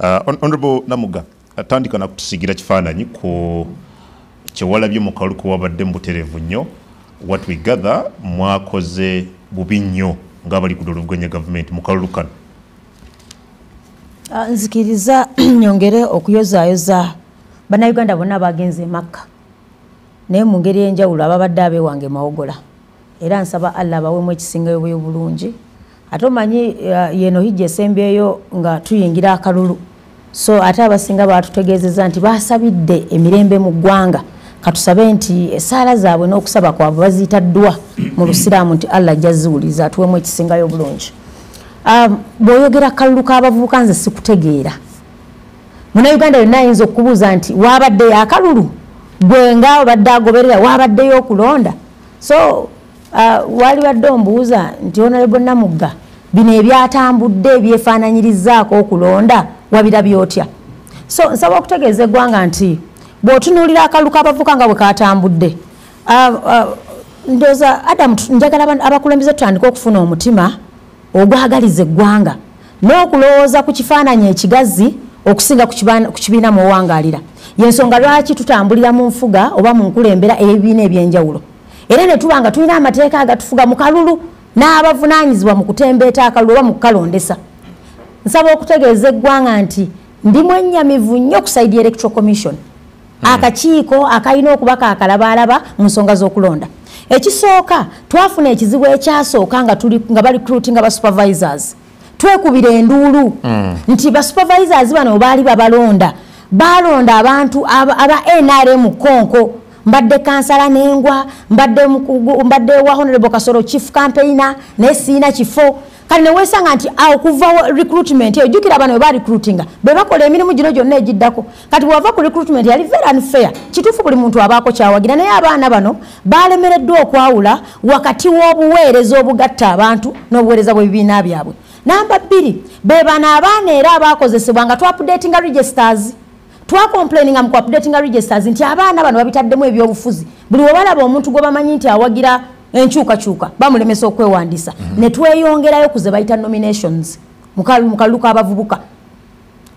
Uh, Honorable Namuga, atandika na kutusigira kifaananyi ku kyewalabye mu kalulu ke wabadde mu butereevu nnyo. What we gather mwakoze bubi nnyo ng'abali ku doluvuganya gavumenti mu kalulu kano. Uh, nzikiriza nyongere okuyozaayoza bannayuganda bonna baagenze emakka naye mu ngeri enjawulo ababadde abeewange mawogola era nsaba allah abawemu ekisingayo bwobulungi ate omanyi uh, yeno hijja esembyeyo nga tuyingira akalulu so ate abasinga batutegeezeza nti basabidde emirembe mu ggwanga katusabe nti esaala zaabwe n'okusaba kwabwe baziyita ddwa mu lusiraamu nti allah ajja ziwuliza atuwemu ekisingayo obulungi um, bw'oyogera kalulu k'abavubuka nze sikutegeera munauganda yonna ayinza okubuuza nti waabaddeyo akalulu gwe nga obadde agoberera waabaddeyo okulonda so uh, wali wadde ombuuza nti honorable namugga bino ebyatambudde ebyefaananyirizaako okulonda wabira byotya so nsaba okutegeeza eggwanga nti bw'otunuulira akalulu k'abavuka nga bwe katambudde uh, uh, ndoza adamu njagala abakulembeze tutandika okufuna omutima ogwagaliza eggwanga n'okulowooza ku kifaananyi ekigazi okusinga ku kibiina mwewangalira yensonga lwaki tutambulira mu nfuga oba mu nkulembera ey'ebibiina ebyenjawulo era ne tuba nga tulina amateeka agatufuga mu kalulu n'abavunaanyizibwa mu kutembeeta akalulu oba mu kukalondesa nsaba okutegeeza eggwanga nti ndi mwennyamivu nnyo ku saidi electoral commission hmm. akakiiko akalina okuba kakalabaalaba mu nsonga z'okulonda ekisooka twafuna ekizibu ekyasooka nga tuli nga bali cruti nga basupervisors twekubira enduulu hmm. nti basupervisors bano baali babalonda balonda abantu aba nrm konko mbadde kansala nengwa mbadde wa honorable kasoro chief campaigner naye siina kifo kale newesanga nti awo kuva recruitment eyo jukira abana weba recruitinga bebakola emirimu gino gyonna egiddako kati bwewava ku recruitment yali very unfair kituufu buli muntu abaako kyawagira naye abaana bano balemereddwa okwawula wakati w'obuweereza obugatta abantu n'obuweereza bw'ebibiina byabwe namba bbiri bebano abaana era abaakozesebwa nga twapudetinga registers twakomplaininga mu kuapdatinga registers nti abaana bano babitaddemu ebyobufuzi buli webalaba omuntu gwebamanyi nti awagira enkyukakyuka bamulemesa okwewandisa mm -hmm. netweyongerayo kuze bayita nominations mukalulu kabavubuka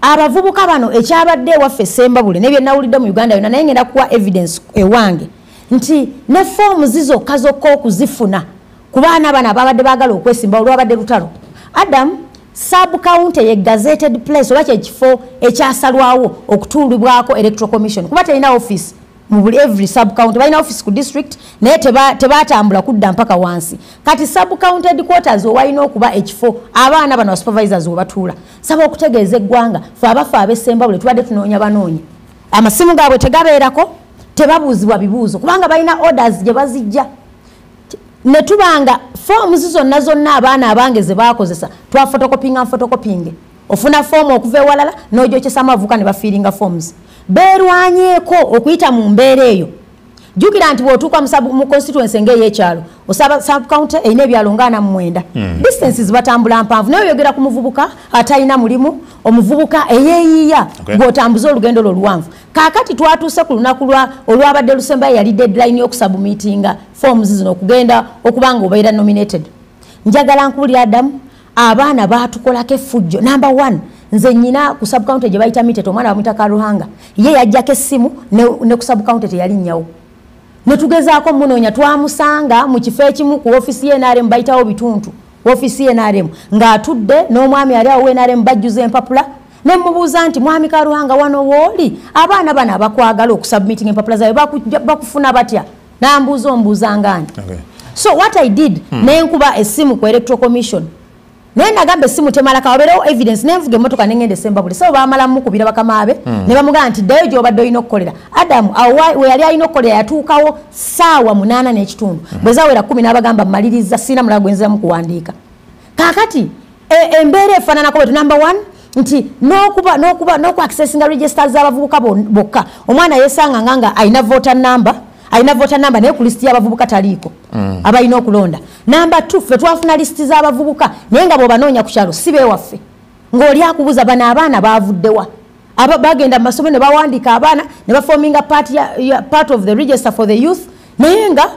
abavubuka bano ekyabadde ewaffe sembabule nebyenawulidde mu uganda yona naye ngenda kuwa evidence ewange nti ne foomu zizokka zokka okuzifuna ku baana bano ababadde bagala okwesimba olwabadde lutalo adamu sub county ye gazetted place oba kyekifo ekyasalwawo okutundibwako electoral commission kuba terina office mubuli every sub county balina office ku district naye tebatambula kudda mpaka wansi kati sub county headquarters owalina okuba ekifo abaana bano basupervisors webatuula saba okutegeeza eggwanga fe abafe abesembabule tubadde tunoonya banoonya amasimu gaabwe tegabeerako tebabuuzibwa bibuuzo kubanga balina orders gye bazijja ne tuba nga foomuzi zonna zonna abaana abange ze bakozesa twafotokopinga nfotokopinge ofuna foomu okuva ewalala n'ojokyesa amavuka ne bafiiringa foomuzi beerwanyeeko okuyita mu mbeera eyo jjukira nti bw'otuuka mu constituency ng'ey'ekyalo osaba subcounty erina ebyalo ngaana mu mwenda hmm. distances batambula mpanvu naye oyogera ku muvubuka atalina mulimu omuvubuka eyeeyiiya gw'otambuza olugendo lwo oluwanvu kakati twatuuse ku lunaku lwa olwabadde lusembayo yali deadline yokusabumitinga forms zino okugenda okuba nga obeera nominated njagala nkubulira adamu abaana batukolako effujjo number one nze nyina ku subcounty gye bayita mitet omwana bamwita karuhanga ye yajjako essimu ne ku subcounty teyali nnyawo netugezaako munoonya twamusanga mu kifo ekimu ku ofisi yenrm bayitawo bituntu ofisi yenrm ng'atudde n'omwami ali awo wenrm bajjuza empapula ne mubuuza nti mwami karuhanga wano wooli abaana bano abakwagala okusubmitting empapula zayo bakufuna batya nambuuza ombuuza ngani okay. so what i did hmm. nenkuba esimu ku electoral commission naye nagamba esimu temalaka wabeerewo evidence nenvuga emotoka nengenda esembabule sabo bamala mukubira bakamaabe hmm. ne bamugamba nti ddayo gyobadde olina okukolera adamu weyali alina okukolera yatuukawo saawa munaana n'ekitundu hmm. bwezawera kumi n'abagamba mmaliriza sirina mulago gwenziramu kuwandiika kakati e, embeera e, efananako bwetu number one nti nokuba nokuba nokuaccessinga register zabavubuka bokka omwana yesanga nga nga alina voter number alina voter number naye ku list yabavubuka taliiko mm. abalina okulonda number two fe twafuna list zabavubuka naye nga bwobanoonya ku kyalo si bewaffe ng'oli akubuza bano abaana bavuddewa aba bagenda mu masomero ne bawandiika abaana ne bafominga part, part of the register for the youth naye nga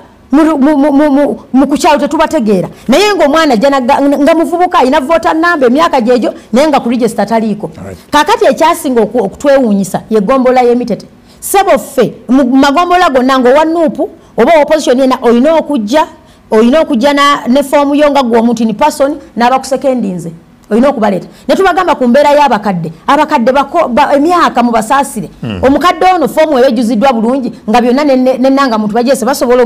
mu kukyalo tetubategeera naye ngaomwana jjana nga muvubuka alina vota namba emyaka gyegyo naye nga ku register taliiko kakati ekyasinga okutwewuunyisa yegombolola yemitete sebo ffe mu magombolola gonna ngaowa nuupu oba opposition yena olina okujja olina okujja ne foomu yo nga gwe omuntu ni person n'abakusekendinze olina okubaleeta ne tubagamba ku mbeera y'abakadde abakadde emyaka mu basaasire hmm. omukadde ono foomu eba ejjuziddwa bulungi nga byonna nenanga muntu bajeese basobola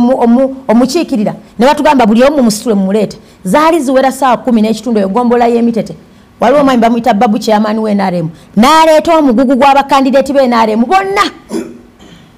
omukiikirira ne batugamba buli omu musitule mumuleete zaali ziwera saawa kumi n'ekitundu eyo gombola y'emitete waliwo omwami bamuyita babu kyeyamaani w'enaremu n'aleeta omugugu gw'abakandideeti b'enaremu bonna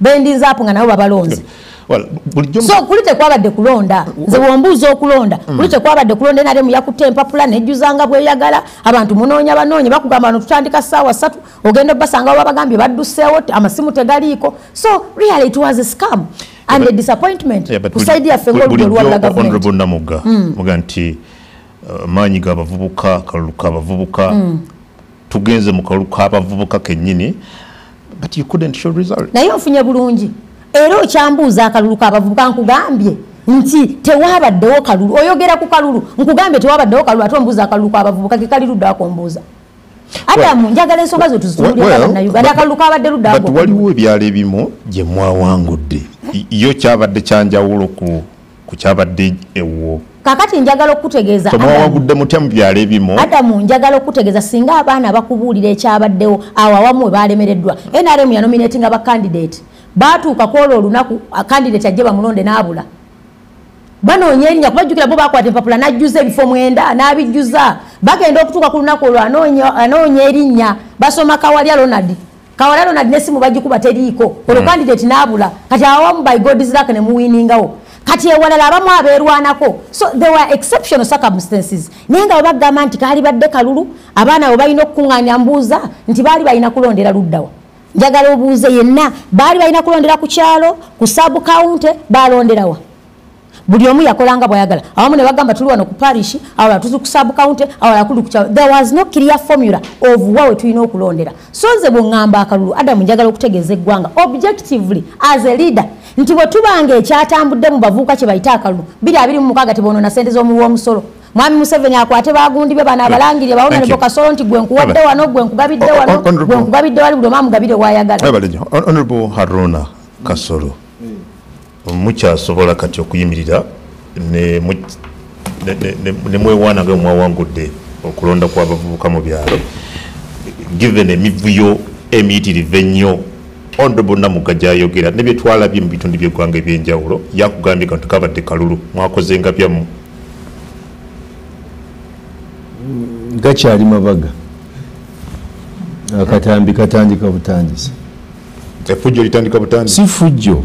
bendinze apo nga nabo babalonze so kuli tekwabadde kulonda nze wombuuza okulonda mm. kuli tekwabadde kulonda nare muyakutte empapula nejjuzanga bweyagala abantu munoonya banoonye bakugamba bano tutandika saawa satu ogenda obasanga babagambye badduseewo amasimu tegaliiko so really it was a scam and a disappointment kusaidi yaffe ngaolwalagahonorable namugga mm. muga nti uh, maanyi ga bavubuka kalulu ka bavubuka mm. tugenze mu kalulu k'abavubuka kennyini but you couldn't show result naye ofunye bulungi era okyambuuza akalulu k'abavubuka nkugambye nti tewabaddewo kalulu oyogera ku kalulu nkugambye tewabaddewo kalulu ate ombuuza akalulu k'abavubuka kekali ludda akombuuza adamu njagala ensonga zo tuzitululiranauganda akalulu kabadde ludawaliwo ebyalo ebimu gye mwawangudde yo kyabadde kyanjawulo ku ku kyabadde ewo kakati njagala okukutegeeza tomwawagudde mutya mu byalo ebimu adamu njagala okukutegeeza singa abaana bakubuulira ekyabaddewo awo awamu we baalemereddwa nrm yanominati nga bakandidate baatuuka ku olwo olunaku kandidate ajje bamulonde n'abula banoonya erinya kuba jjukira bo bakwata empapula n'ajjuza ebifo mwenda n'abijjuza bagenda okutuuka ku lunaku olwo anoonya erinya basoma kawalya ronald kawala ronald ne simu bagikuba teriiko hmm. olwo kandidate naabula kati awamu by god's luck ne muwiningawo kati ewalala abamu abeerwanako so there were exceptional circumstances naye nga webagamba nti kaali badde kalulu abaana we balina okukuŋŋaanya mbuuza nti baali balina kulondera luddawa njagala obuuze yenna baali balina kulondera ku kyalo ku sub county baalonderawa buli omu yakola nga bwayagala awamu ne bagamba tuli wano ku parish awala tuli ku sub county awala kuli ku kyalo there was no clear formula of wa we tulina okulondera so nze bwe ŋŋamba akalulu adamu njagala okutegeeza eggwanga objectively as a leader nti bwe tubanga ekyatambudde mu bavuuka kye bayite akalulu biri abiri mu mukaaga teboonoona ssente z'omuwi w'omusolo mwami museveni akwate bagundi be bana abalangirire bawona ne bokasolo nti gwe nkuwadde wano gwe nkugabidde wano gwe nkugabidde wali buli omu amugabire wayagala honorable haruna kasolo mm. mukyasobola kati okuyimirira nemwewaana nga mwawangudde okulonda kwabavubuka mu byalo given emivuyo emiyitirivu ennyo ondo bonna mugga gyayogera ne byetwalabye mu bitundu byeggwanga ebyenjawulo yakugambye kantu kabadde kalulu mwakoze nga byamu gakyali mabaga akatambi katandika butandisi efujjo litandika butandisi si fujjo